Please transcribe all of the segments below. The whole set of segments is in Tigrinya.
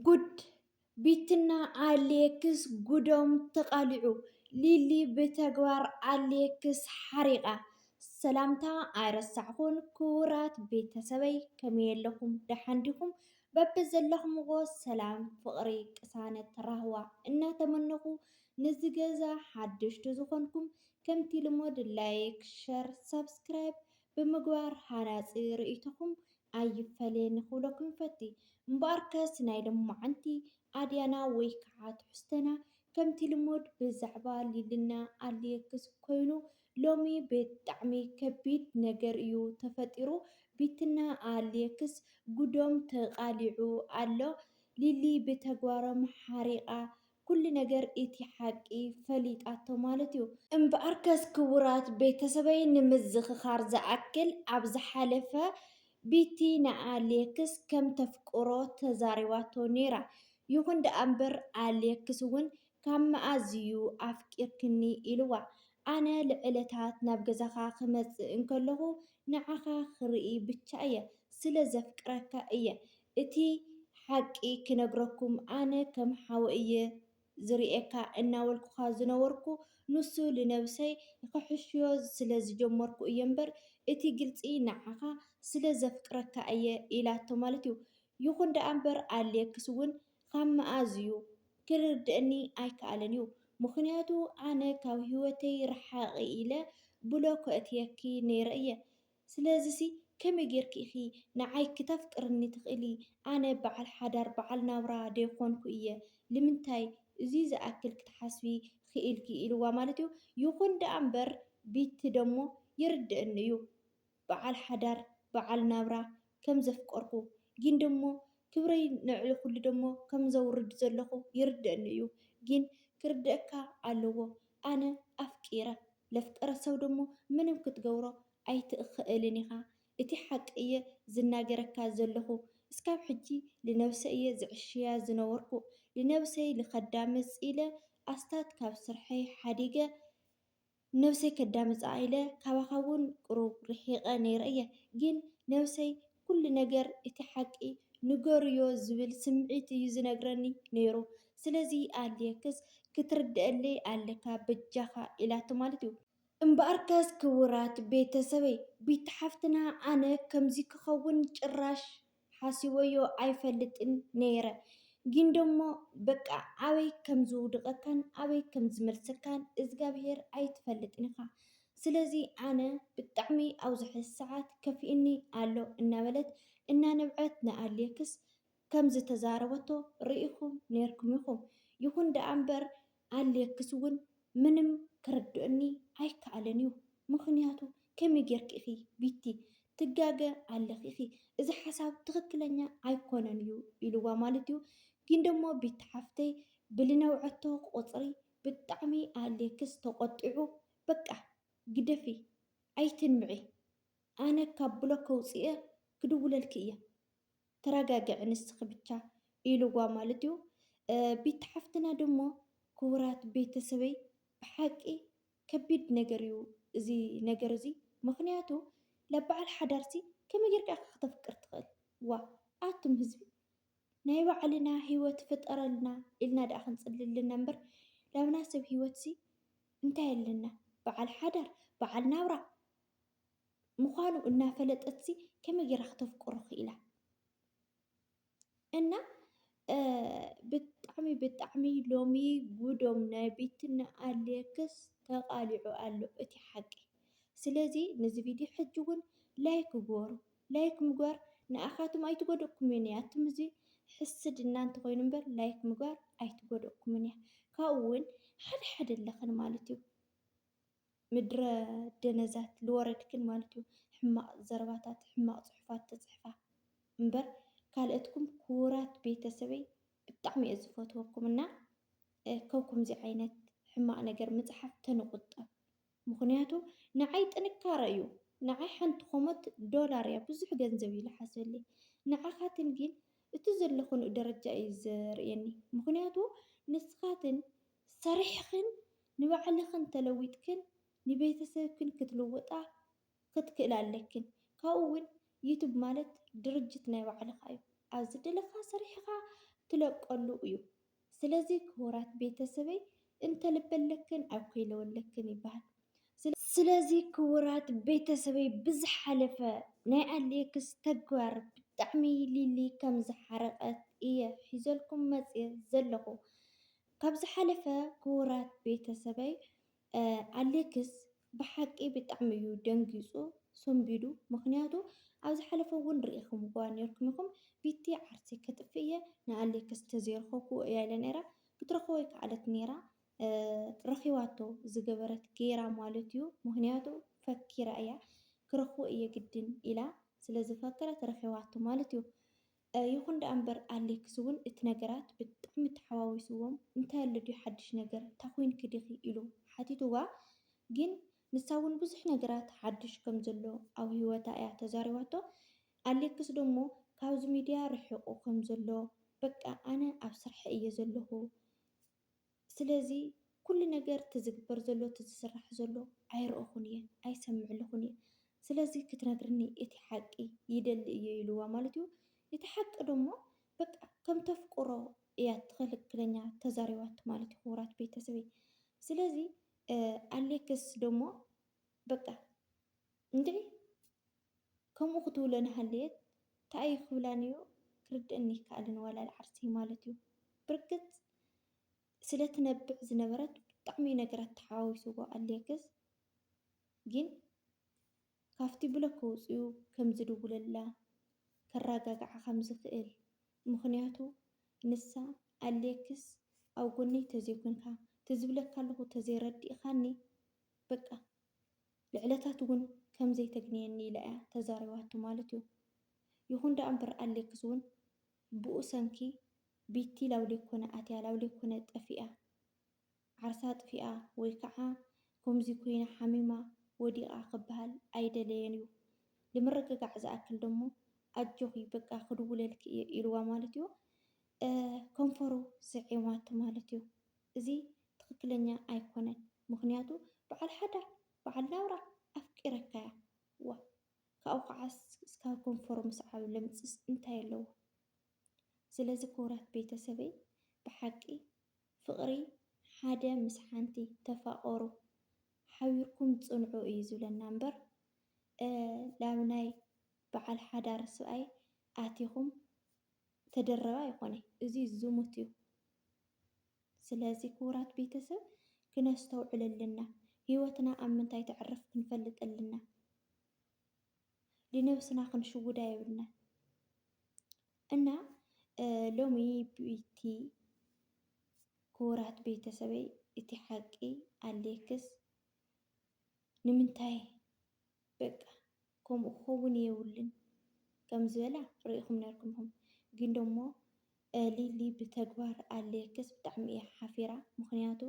ጉድ ቢትና ኣሌክስ ጉዶም ተቓሊዑ ሊሊ ብተግባር ኣሌክስ ሓሪቓ። ሰላምታ ኣይረሳዕኩን ክቡራት ቤተሰበይ ከመይ ኣለኹም ደሓን ዲኹም? በብዘለኹምዎ ሰላም ፍቕሪ ቅሳነት ራህዋ እናተመነኹ ንዚ ገዛ ሓደሽቲ ዝኾንኩም ከምቲ ልሙድ ላይክ ሸር ሳብስክራይብ ብምግባር ሃናጺ ርእይቶኹም ኣይፈለየን ንክብለኩም ይፈቲ እምበኣርከስ ናይ ሎማዓንቲ ኣድያና ወይ ከዓ ትሕዝቶና ከምቲ ልሙድ ብዛዕባ ሊልና ኣልየክስ ኮይኑ ሎሚ ብጣዕሚ ከቢድ ነገር እዩ ተፈጢሩ ቢትና ኣልየክስ ጉዶም ተቃሊዑ ኣሎ ሊሊ ብተግባሮም ሓሪቃ ኩሉ ነገር እቲ ሓቂ ፈሊጣቶ ማለት እዩ። እምበኣርከስ ክቡራት ቤተሰበይ ንምዝኽኻር ዝኣክል ኣብ ዝሓለፈ ቢቲ ንኣሌክስ ከም ተፍቅሮ ተዛሪባቶ ነይራ። ይኹን ደኣ እምበር ኣሌክስ እውን ካብ መኣዝ እዩ ኣፍቂርክኒ ኢልዋ። ኣነ ልዕለታት ናብ ገዛኻ ክመጽእ እንከለኹ ንዓኻ ክርኢ ብቻ እየ። ስለ ዘፍቅረካ እየ። እቲ ሓቂ ክነግረኩም ኣነ ከም ሓው እየ ዝርእየካ እናበልኩኻ ዝነበርኩ ንሱ ልነብሰይ ኽሕሽዮ ስለ ዝጀመርኩ እየ እምበር እቲ ግልጺ ንዓኻ ስለ ዘፍቅረካ እየ ኢላቶ ማለት እዩ ይኹን ደኣ እምበር ኣልየክስ እውን ኻብ መኣዝ እዩ ክርድእኒ ኣይከኣለን እዩ ምኽንያቱ ኣነ ካብ ህይወተይ ርሓቒ ኢለ ብሎክ ከእትየኪ ነይረ እየ ስለዚሲ ከመይ ጌርኪ ኢኺ ንዓይ ክተፍቅርኒ ትኽእሊ? ኣነ በዓል ሓዳር በዓል ናብራ ደይኮንኩ እየ ልምንታይ እዙይ ዝኣክል ክትሓስቢ ኽኢልኪ ኢልዋ ማለት እዩ። ይኹን ደኣ እምበር ቢቲ ደሞ ይርደእኒ እዩ በዓል ሓዳር በዓል ናብራ ከም ዘፍቀርኩ ጊን ደሞ ክብረይ ንዕሊ ኹሉ ደሞ ከም ዘውርድ ዘለኹ ይርደእኒ እዩ ጊን ክርደእካ ኣለዎ ኣነ ኣፍቂረ ለፍጠረ ሰብ ደሞ ምንም ክትገብሮ ኣይትእኸእልን ኢኻ እቲ ሓቂ እየ ዝናገረካ ዘለኹ እስካብ ሕጂ ልነብሰይ እየ ዝዕሽያ ዝነበርኩ ልነብሰይ ልከዳምፅ ኢለ ኣስታት ካብ ስርሐይ ሓዲገ ነብሰይ ከዳምፃ ኢለ ካባኻ ውን ቅሩብ ርሒቀ ነይረ እየ ግን ነብሰይ ኩሉ ነገር እቲ ሓቂ ንገሩዮ ዝብል ስምዒት እዩ ዝነግረኒ ነይሩ ስለዚ ኣልየክስ ክትርደኣለይ ኣለካ በጃካ ኢላቶ ማለት እዩ። እምበኣርከስ ክቡራት ቤተሰበይ ቢቲ ሓፍትና ኣነ ከምዚ ክከውን ጭራሽ ሓሲበዮ ኣይፈልጥን ነይረ ጊን ደሞ በቃ ኣበይ ከምዝውድቀካን ኣበይ ከምዝመልሰካን እዝጋብሄር ኣይትፈልጥን ኢካ ስለዚ ኣነ ብጣዕሚ ኣብዚ ሕዚ ሰዓት ከፊኡኒ ኣሎ እናበለት እናነብዐት ንኣሌክስ ከምዝተዛረበቶ ርኢኹም ኔርኩም ኢኹም። ይኹን ደኣ እምበር ኣሌክስ እውን ምንም ክርደኣኒ ኣይከኣለን እዩ። ምኽንያቱ ከመይ ጌርኪ ኢኺ ቢቲ ትጋገ ኣለኺ ኢኺ እዚ ሓሳብ ትኽክለኛ ኣይኮነን እዩ ኢልዋ ማለት እዩ። ግን ደሞ ቢቲ ሓፍተይ ብልነብዐቶ ቁፅሪ ብጣዕሚ ኣሌክስ ተቖጢዑ በቃ ግደፊ ኣይትንብዒ ኣነ ካብ ብሎክ ከውጽእየ ክድውለልኪ እየ ተራጋግዒ ንስኪ ብቻ ኢልዋ ማለት እዩ ቢቲ ሓፍትና ደሞ ኩቡራት ቤተሰበይ ብሓቂ ከቢድ ነገር እዩ እዚ ነገር እዚ ምክንያቱ ላባዓል ሓዳርሲ ከመይ ገርካ ኢካ ከተፍቅር ትክእል ዋእ ኣቱም ህዝቢ ናይ ባዕልና ሂወት ፍጠረልና ኢልና ድኣ ክንጽሊ ኣለና እምበር ላብና ሰብ ሂወትሲ እንታይ ኣለና ብዓል ሓዳር ብዓል ናብራ ምኳኑ እናፈለጠትሲ ከመይ ጌራ ክተፍቅሮ ኪኢላ እና ብጣዕሚ ብጣዕሚ ሎሚ ጉዶም ናይ ቤትና ኣሌክስ ተቃሊዑ ኣሎ እቲ ሓቂ ስለዚ ነዚ ቪድዮ ሕጂ እውን ላይክ ግበሩ ላይክ ምግባር ንኣኻትም ኣይትጎድእኩምን እያ ኣቱም እዚ ሕስድና እንተኾይኑ እምበር ላይክ ምግባር ኣይትጎድእኩምን እያ ካብኡ እውን ሓደ ሓደ ኣለኽን ማለት እዩ ምድረ ደነዛት ልወረድክን ማለት እዩ ሕማቕ ዘረባታት ሕማቕ ፅሑፋት ተፅሕፋ እምበር ካልኦትኩም ክቡራት ቤተሰበይ ብጣዕሚ እየ ዝፈትወኩም እና ከብኩምዚ ዓይነት ሕማቕ ነገር ምፅሓፍ ተንቑጠብ ምኽንያቱ ንዓይ ጥንካረ እዩ ንዓይ ሓንቲ ኾሞት ዶላር እያ ብዙሕ ገንዘብ እዩ ልሓሰለይ ንዓኻትን ጊን እቲ ዘለኽንኡ ደረጃ እዩ ዘርእየኒ ምኽንያቱ ንስኻትን ሰሪሕኽን ንባዕልኽን ተለዊጥክን ንቤተሰብክን ክትልውጣ ክትክእላ ኣለኪን ካብኡ ውን ዩቱብ ማለት ድርጅት ናይ ባዕልካ እዩ ኣብ ዝደለካ ሰሪሕካ ትለቀሉ እዩ ስለዚ ክቡራት ቤተሰበይ እንተልበለክን ኣብ ከይለወለክን ይባሃል ስለዚ ክቡራት ቤተሰበይ ብዝሓለፈ ናይ ኣሌክስ ተግባር ብጣዕሚ ሊሊ ከም ዝሓረቀት እየ ሒዘልኩም መፅየ ዘለኩ ካብ ዝሓለፈ ክቡራት ቤተሰበይ ኣሌክስ ብሓቂ ብጣዕሚ እዩ ደንጊፁ ሰንቢዱ ምክንያቱ ኣብ ዝሓለፈ እውን ሪኢክምዋ ነይርኩም ኢኩም ቢቲ ዓርሰይ ከጥፍእ እየ ንኣሌክስ ተዘይረከብክዎ እያ ኢላ ነይራ ክትረክቦ ኣይከኣለት ነይራ ረኪባቶ ዝገበረት ገይራ ማለት እዩ ምክንያቱ ፈኪራ እያ ክረክቦ እየ ግድን ኢላ ስለዝፈከረት ረኪባቶ ማለት እዩ ይኹን ደኣ እምበር ኣሌክስ እውን እቲ ነገራት ብጣዕሚ ተሓዋዊስዎም እንታይ ኣሎ ድዩ ሓድሽ ነገር እንታ ኮይንኪ ዲኺ ኢሉ ሓቲትዋ ግን ንሳ እውን ብዙሕ ነገራት ሓድሽ ከም ዘሎ ኣብ ህይወታ እያ ተዛሪባቶ ኣሌክስ ደሞ ካብዚ ሚድያ ርሒቑ ከም ዘሎ በቃ ኣነ ኣብ ስርሐይ እየ ዘለኹ ስለዚ ኩሉ ነገር እቲ ዝግበር ዘሎ እቲ ዝስራሕ ዘሎ ኣይረእኹን እየ ኣይሰምዕልኹን እየ ስለዚ ክትነግርኒ እቲ ሓቂ ይደሊ እየ ኢልዋ ማለት እዩ እቲ ሓቂ ደሞ በቃ ከም ተፍቅሮ እያ ትኽልክለኛ ተዛሪባቱ ማለት እዩ ክቡራት ቤተሰበይ ስለዚ ኣሌክስ ደሞ በቃ እንድዒ ከምኡ ክትብሎ እንሃለየት ታይ እዩ ክብላ ነይሩ ክርደእኒ ኣይከኣለን ዋላ ልዓርሰይ ማለት እዩ ብርግፅ ስለ ትነብዕ ዝነበረት ብጣዕሚ ነገራት ተሓዋዊስዎ ኣልየክስ ግን ካብቲ ብሎክ ውፅኡ ከም ዝድውለላ ከራጋግዓ ከም ዝክእል ምክንያቱ ንሳ ኣልየክስ ኣብ ጎነይ ተዘይኮንካ ትዝብለካ ኣለኩ ተዘይረዲእካኒ በቃ ልዕለታት እውን ከም ዘይተግንየኒ ኢላ እያ ተዛሪባቶ ማለት እዩ። ይኹን ደኣ እምበር ኣሌክስ እውን ብኡ ሰንኪ ቢቲ ላውሌኮነ ኣትያ ላውሌኮነ ጠፊኣ ዓርሳ ኣጥፊኣ ወይ ከዓ ከምዙይ ኮይና ሓሚማ ወዲቓ ክበሃል ኣይደለየን እዩ። ንምርግጋዕ ዝኣክል ደሞ ኣጆኺ በቃ ክድውለልኪ እየ ኢሉዋ ማለት እዩ። ከንፈሩ ስዒማቶ ማለት እዩ እዚ ትክክለኛ ኣይኮነን ምክንያቱ በዓል ሓዳር በዓል ናብራ ኣፍቂረካያ ዋእ ካብኡ ከዓ እስካብ ከንፈሩ ምስዓብ ለምፅስ እንታይ ኣለዎ ስለዚ ክቡራት ቤተሰበይ ብሓቂ ፍቅሪ ሓደ ምስ ሓንቲ ተፋቀሩ ሓቢርኩም ፅንዑ እዩ ዝብለና እምበር ላብ ናይ በዓል ሓዳር ስብኣይ ኣቲኩም ተደረበ ኣይኮነይ እዚ ዝሙት እዩ ስለዚ ክቡራት ቤተሰብ ክነስተውዕል ኣለና ሂወትና ኣብ ምንታይ ተዕርፍ ክንፈልጥ ኣለና ልነብስና ክንሽውዳ የብልናን እና ሎሚ ቢቲ ክቡራት ቤተሰበይ እቲ ሓቂ ኣሌክስ ንምንታይ በቃ ከምኡ ክኸውን የብሉን ከም ዝበላ ሪኢኹም ነርኩም ኢኹም ግን ደሞ ሊሊ ብተግባር ኣለየክስ ብጣዕሚ እያ ሓፊራ ምኽንያቱ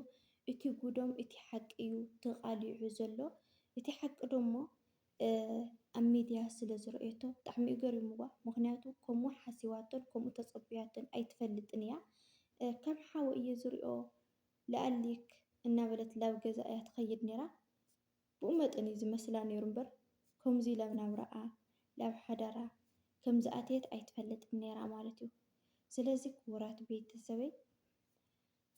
እቲ ጉዶም እቲ ሓቂ እዩ ተቃሊዑ ዘሎ እቲ ሓቂ ደሞ ኣብ ሚድያ ስለ ዝረኦቶ ብጣዕሚ እዩ ገሪምዋ ምኽንያቱ ከምኡ ሓሲባቶን ከምኡ ተጸብያቶን ኣይትፈልጥን እያ ከም ሓወ እየ ዝሪኦ ላኣሊክ እናበለት ላብ ገዛ እያ ትኸይድ ነራ። ብኡ መጠን እዩ ዝመስላ ነይሩ እምበር ከምዙይ ላብ ናብራኣ ላብ ሓዳራ ከም ዝኣተየት ኣይትፈልጥን ነይራ ማለት እዩ ስለዚ ክቡራት ቤተሰበይ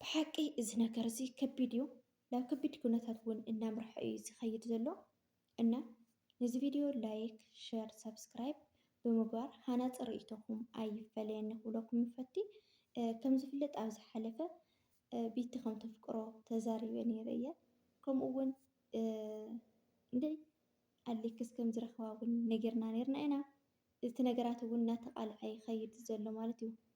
ብሓቂ እዚ ነገር እዚ ከቢድ እዩ ላብ ከቢድ ኩነታት እውን እናምርሐ እዩ ዝኸይድ ዘሎ እና ነዚ ቪድዮ ላይክ ሸር ሳብስክራይብ ብምግባር ሃናፂ ርእይቶኹም ኣይፈለየኒ ክብለኩም ይፈቲ ከም ዝፍለጥ ኣብ ዝሓለፈ ቢቲ ከም ተፍቅሮ ተዛሪበ ነይረ እየ ከምኡ ውን ን ኣሌክስ ከም ዝረኽባ ውን ነጊርና ነርና ኢና እቲ ነገራት ውን ናተቓልዐ ይኸይድ ዘሎ ማለት እዩ